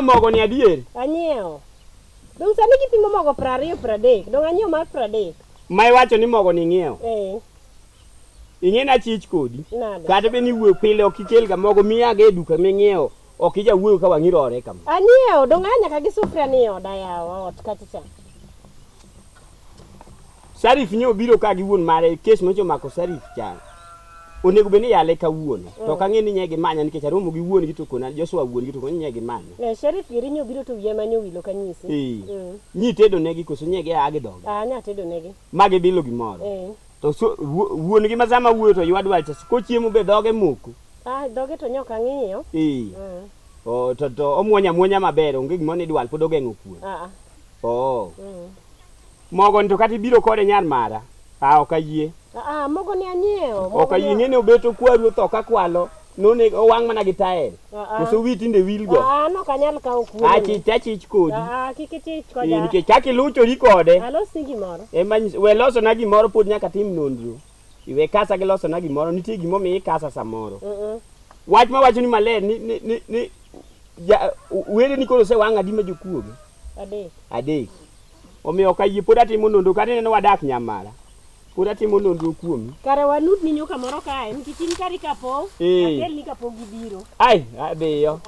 mogo ni adier anyiewo dong sani kipimo mogo piero ariyo piero adek dong anyiewo mar piero adek ma iwacho ni mogo ni ing'iewo eh. ing'e na chich kodi kata be ni wuo pile ok ikel ga mogo miya ga e duka ming'iewo ok ija wuoyo ka wang'i rore kama anyiewo dong anya ka gi sufria ni oda yawa ot kacha cha Sharif nyo biro ka gi wuon mare kes mocho mako Sharif cha. Onego beni yale ka wuon. To mm. ka ng'e ni nyegi manya nikech aromo gi wuon gi to kona Joshua wuon gi to kona nyegi manya. Ne Sharif giri nyo biro to wiye manyo wilo ka nyisi. Eh. Mm. Nyi tedo negi koso nyegi a gi dog. Ah nya tedo negi. Magi bilo gimoro. Eh. To so, wuon gi mazama wuoyo to ywa dwal cha ko chiemo be doge moko. Ah doge to nyoka ng'iyo. Eh. Mm. Oh to to omwonya mwonya maber onge gimoni dwal pod ogeng'o kuon. Ah. ah. Oh. Mm. Mogo ni to kata ibiro kode nyar mara. Ah, ok ayie. Ah, mogo ni anyiewo. Ok ayie ng'e ni obeto kwaru otho ka kwalo. None owang' mana gi tael. Koso wi tinde wil go. Ah, no kanyal kawo kuono. Ah, chich achich kodi. Ah, kik ichich koda. Ee, nikech kaka iluchori kode. Alos ni gimoro. Ema we loso na gimoro pod nyaka tim nonro. iwe kasa gi loso na gimoro nitie gimo mi ikasa samoro mm -mm. wach ma wacho ni maler ni ni ni, ni ja were ni koro se wanga di ma jokuoge adek adek omiyo ka yie pod atimo nondo kata neno wadak nyamara pod atimo nonro kuomi kare wanud ni nyuka moro kae nikech in kari kapo eh. akel ni kapo gibiro ai adhiyo